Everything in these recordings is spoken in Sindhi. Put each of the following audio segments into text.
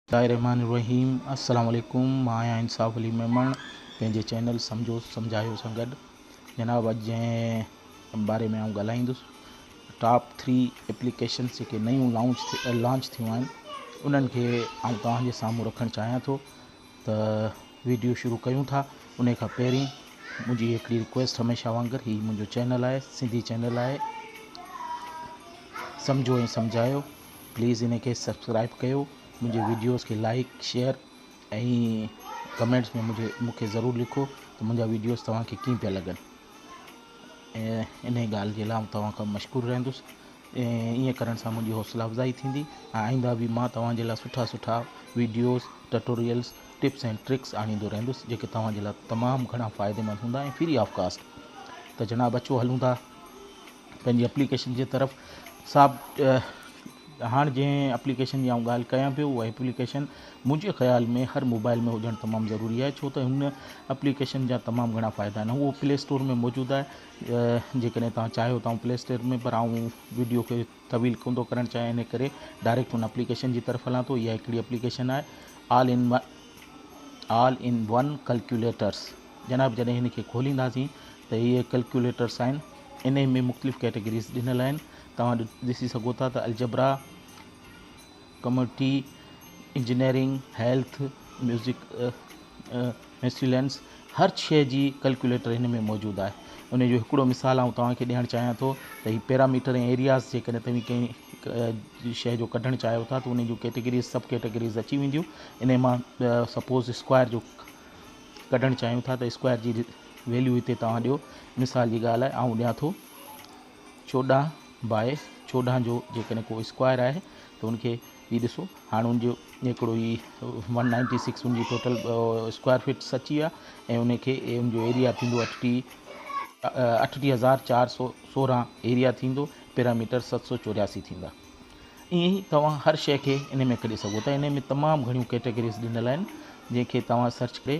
الله الرحمٰن الرحيم السلام عليڪم مان آهيان انصاف علي ميمڻ پنهنجي چينل سمجهو سمجهايو سان گڏ جناب اڄ جنهن باري ۾ آئون ڳالهائيندس ٽاپ ٿري ايپليڪيشنس جيڪي نيون لانچ لانچ ٿيون آهن انهن کي آئون توهان جي سامهون رکڻ چاهيان ٿو ته ويڊيو شروع ڪيون ٿا انهي کان پهرين منهنجي هڪڙي رڪويسٽ هميشه وانگر هي منهنجو چينل آهي سنڌي چينل آهي سمجهو ۽ سمجهايو پليز انهي کي سبسڪرائب ڪيو منهنجي ويڊيوز کي لائڪ شيئر ۽ ڪمينٽس ۾ مجھي مونکي ضرور لکو ته منهنجا ويڊيوز توهان کي ڪيئن پيا لڳن انهي ڳالهه جي لاء آئون توهان کان مشڪور رهندس ائين ڪرڻ سان منهنجي حوصلا افزائي ٿيندي ۽ آئنده به مان توهان جي لاء سٺا سٺا وڊيوز ٽٽوريلز ٽپس ۽ ٽرڪس آڻيندو رهندس جيڪي توهان جي لاء تمام گهڻا فائدي مند هوندا ۽ فري آف ڪاسٽ ته جناب اچو هلون ٿا پنهنجي اپليڪيشن جي طرف صاحب هاڻ جنهن اپليڪيشن جي آئون ڳالهه ڪيان پيو اها اپليڪيشن منهنجي خيال ۾ هر موبائل ۾ هجڻ تمام ضروري آهي ڇو ته هن اپليڪيشن جا تمام گهڻا فائدا آهن هو پلي اسٽور ۾ موجود آهي جيڪڏهن توهان چاهيو ته آئون پلي اسٽيئر ۾ پر آئون وڊيو کي طويل ڪوندو ڪرڻ چاهيان انهي ڪري ڊائريڪٽ ان اپليڪيشن جي طرف هلان ٿو اها هڪڙي اپليڪيشن آهي all in one all in one calculators جناب جڏهن هن کي کولينداسين ته هي ڪلڪيوليٽرس آهن انهي ۾ مختلف ڪيٽيگريز ڏنل آهن توهان ڏسي سگهو ٿا ته algebra community engineering, health, music miscellaneous هر شيء جي ڪلڪيوليٽر هن ۾ موجود آهي. انهيء جو هڪڙو مثال آئون توهان کي ڏيڻ چاهيان ٿو ته هي پيراميٽر ۽ ايرياز جيڪڏهن توهين ڪنهن شيء جو ڪڍڻ چاهيو ٿا ته انهيء جون ڪيٽيگريز، سب ڪيٽيگريز، اچي وينديون. انهيء مان سپوز اسڪوائر جو ڪڍڻ چاهيون ٿا ته اسڪوائر جي ويليو هتي توهان ڏيو. مثال جي ڳالهه آء آئون ڏيان ٿو. چوڏهن باء چوڏهن جو جيڪڏهن ڪو اسڪوائر آهي ته ان کي هي ڏسو هاڻ ان جو هڪڙو هي ون نائنٽي سڪس ان جي ٽوٽل اسڪوائر فٽس اچي ويا ۽ ان کي ان جو ايريا ٿيندو اٺٽيهه اٺٽيهه هزار چار سو سورهن ايريا ٿيندو پيرامیٽر ست سو چورياسي ٿيندا ائين ئي توهان هر شيء کي ان ۾ ڪڍي سگهو ٿا ان ۾ تمام گهڻيون ڪيٽيگريز ڏنل آهن جنهن کي توهان سرچ ڪري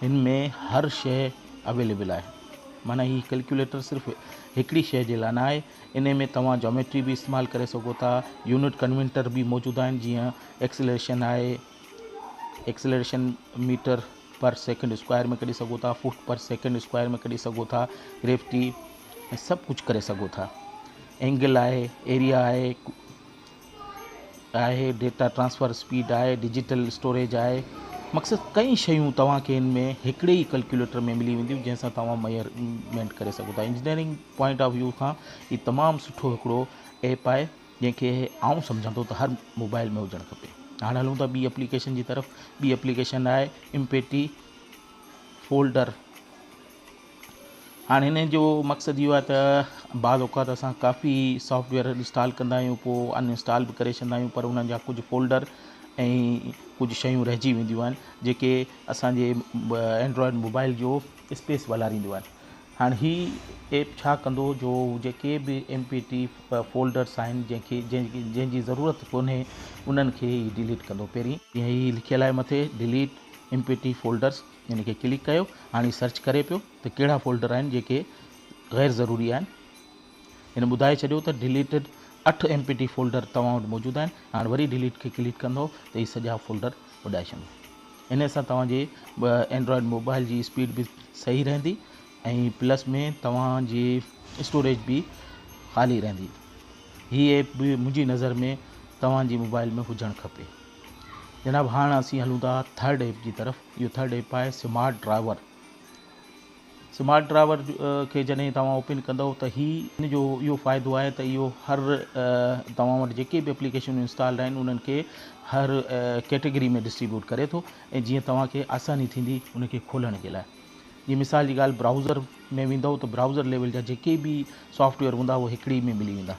هن ۾ هر شيء اويليبل آهي معنيٰ هي ڪلڪيوليٽر صرف هڪڙي شيء جي لاء نه آهي انهي ۾ توهان جاميٽري به استعمال ڪري سگهو ٿا يونٽ ڪنورٽر به موجود آهن جيئن ايڪسلريشن آهي acceleration metre per second square ۾ ڪڍي سگهو ٿا فوٽ پر سيڪنڊ اسڪوائر ۾ ڪڍي سگهو ٿا گريفٽي سڀ ڪجهه ڪري سگهو ٿا اينگل آهي ايريا آهي آهي، ڊيٽا ٽرانسفر اسپيڊ آهي، ڊجيٽل اسٽوريج آهي، مقصد ڪئين شيون توهان کي ان ۾ هڪڙي ئي ڪلڪيوليٽر ۾ ملي وينديون جنهن سان توهان ميئرمينٽ ڪري سگهو ٿا انجنيئرنگ پوائنٽ آف ويو کان هي تمام سٺو هڪڙو ايپ آهي جنهن کي آئون سمجهان ٿو ته هر موبائل ۾ هجڻ کپي هاڻ هلون ٿا ٻي اپليڪيشن جي طرف ٻي اپليڪيشن آهي امپيٽي فولڊر هاڻ هن جو مقصد اهو آهي ته بعض اوقات اسان ڪافي سافٽ ويئر انسٽال ڪندا آهيون پوء ان انسٽال به ڪري ڇڏيندا آهيون پر ان جا ڪجهه فولڊر ۽ ڪجهه شيون رهجي وينديون آهن جيڪي اسانجي اينڊرائڊ موبائل جو اسپيس والارينديون آهن هاڻ هي ايپ ڇا ڪندو جو جيڪي به ايم پي ٽي فولڊرس آهن جنهنکي جنهن جي ضرورت ڪونهي انهن کي هي ڊليٽ ڪندو پهرين جيئن هي لکيل آهي مٿي delete M P three folders ان کي ڪلڪ ڪيو هاڻي هي سرچ ڪري پيو ته ڪهڙا فولڊر آهن جيڪي غير ضروري آهن هن ٻڌائي ڇڏيو ته ڊيليٽيڊ اٺ ايم پي ٽي فولڊر توهان وٽ موجود آهن هاڻ وري ڊيليٽ کي ڪلڪ ڪندو ته هي سڄا فولڊر اڏائي ڇڏيو ان سان توهان جي اينڊرائڊ موبائل جي اسپيڊ به صحيح رهندي ۽ پلس ۾ توهان جي اسٽوريج به خالي رهندي هي ايپ به منهنجي نظر ۾ توهان جي موبائل ۾ هجڻ کپي جناب هاڻ اسين هلون ٿا ٿرڊ ايپ جي طرف اهو ٿرڊ ايپ آهي سمارٽ ڊرائيور سمارٽ ڊرائيور کي جڏهن توهان اوپن ڪندو ته هي ان جو اهو فائدو آهي ته اهو هر توهان وٽ جيڪي به اپليڪيشنون انسٽالڊ آهن انهن کي هر ڪيٽيگري ۾ ڊسٽريبيوٽ ڪري ٿو ۽ جيئن توهان کي آساني ٿيندي ان کي کولڻ جي لاء جي مثال جي ڳالهه برائوزر ۾ ويندو ته برائوزر ليول جا جيڪي به سافٽويئر هوندا اهي هڪڙي ۾ ملي ويندا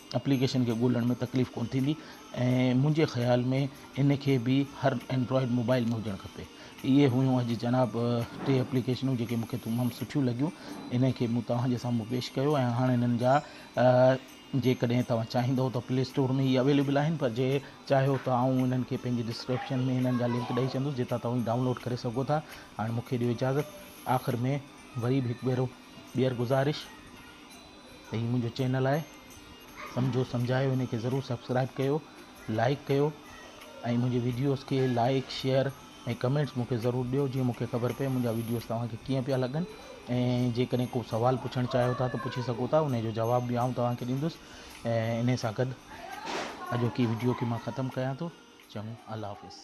اپليڪيشن کي ڳولڻ ۾ تڪليف ڪونه ٿيندي ۽ منهنجي خيال ۾ ان کي به هر اينڊرائڊ موبائل ۾ هجڻ کپي اهي هيون اڄ جناب ٽي اپليڪيشنون جيڪي مون کي تمام سٺيون لڳيون ان کي مون توهان جي سامهون پيش ڪيو ۽ هاڻ انهن جا جيڪڏهن توهان چاهيندو ته پلي اسٽور ۾ هي اويليبل آهن پر جي چاهيو ته آئون انهن کي پنهنجي ڊسڪرپشن ۾ انهن جا لنڪ ڏئي ڇڏندس جتان توهين ڊائونلوڊ ڪري سگهو ٿا هاڻ مون کي ڏيو اجازت آخر ۾ وري به هڪ ڀيرو ٻيهر گذارش ته هي منهنجو چينل آهي سمجهو سمجهايو هن کي ضرور سبسڪرائب ڪيو لائڪ ڪيو ۽ منهنجي ويڊيوز کي لائڪ شيئر ۽ ڪمينٽس مونکي ضرور ڏيو جيئن مونکي خبر پئي منهنجا ويڊيوز توهان کي ڪيئن پيا لڳن ۽ جيڪڏهن ڪو سوال پڇڻ چاهيو ٿا ته پڇي سگهو ٿا ان جو جواب به آئون توهان کي ڏيندس ۽ ان سان گڏ اڄوڪي ويڊيو کي مان ختم ڪيان ٿو چڱو الله حافظ